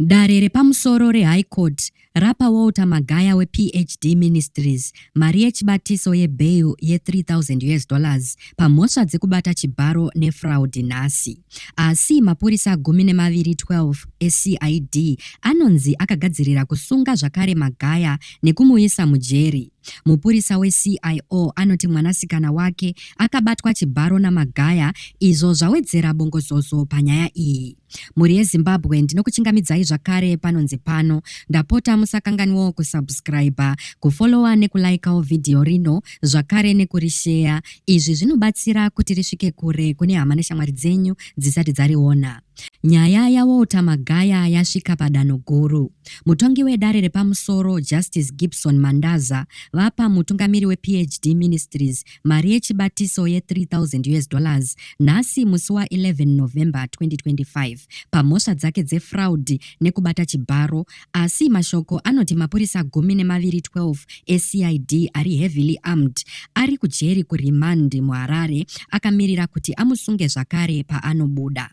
Dare repamusoro reHigh Court rapa Walter Magaya wePHD Ministries mari yechibatiso yebail ye3000 US dollars pamhosva dzekubata chibharo nefraud nhasi. Asi mapurisa gumi nemaviri 12 eCID anonzi akagadzirira kusunga zvakare Magaya nekumuisa mujeri. Mupurisa weCIO anoti mwanasikana wake akabatwa chibharo naMagaya izvo zvawedzera bongozozo panyaya iyi. Mhuri yeZimbabwe ndinokuchingamidzai zvakare panonzi pano. Ndapota musakanganwawo kusubscriber, kufollowa nekulaikawo vhidhiyo rino zvakare nekurisheya. Izvi zvinobatsira kuti risvike kure kune hama neshamwari dzenyu dzisati dzariona. Nyaya yaWalter Magaya yasvika padanho guru. Mutongi wedare repamusoro, Justice Gibson Mandaza, vapa mutungamiri wePHD Ministries, mari yechibatiso ye 3000 us dollars nhasi musi wa 11 November 2025 pamhosva dzake dzefraudi nekubata chibharo asi mashoko anoti mapurisa gumi nemaviri 12 eCID ari heavily armed ari kujeri kuremand muHarare akamirira kuti amusunge zvakare paanobuda.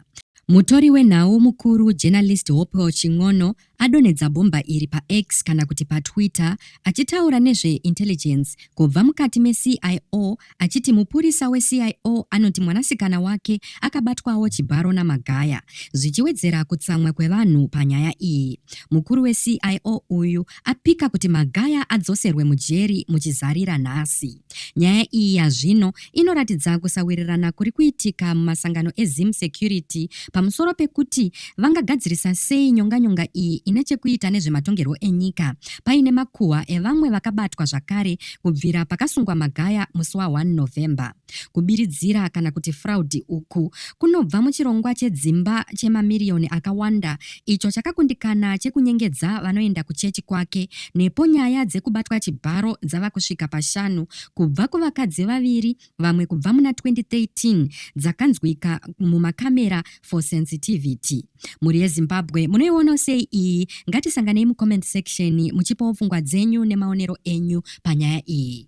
Mutori wenhau mukuru journalist Hopewell Chin'ono adonhedza bhomba iri paX kana kuti paTwitter achitaura nezveintelligence kubva mukati meCIO achiti mupurisa weCIO anoti mwanasikana wake akabatwawo chibharo naMagaya zvichiwedzera kutsamwa kwevanhu panyaya iyi. Mukuru weCIO uyu apika kuti Magaya adzoserwe mujeri muchizarira nhasi. Nyaya iyi yazvino inoratidza kusawirirana kuri kuitika mumasangano eZim Security pamusoro pekuti vangagadzirisa sei nyonganyonga iyi ine chekuita nezvematongerwo enyika paine makuhwa evamwe vakabatwa zvakare kubvira pakasungwa Magaya musi wa 1 November. Kubiridzira kana kuti fraud uku kunobva muchirongwa chedzimba chemamiriyoni akawanda icho chakakundikana chekunyengedza vanoenda kuchechi kwake nepo nyaya dzekubatwa chibharo dzava kusvika pashanu kubva kuvakadzi vaviri vamwe kubva muna 2013 dzakanzwika mumakamera for sensitivity mhuri yezimbabwe munoiona sei iyi ngatisanganei mucomment section muchipawo pfungwa dzenyu nemaonero enyu panyaya iyi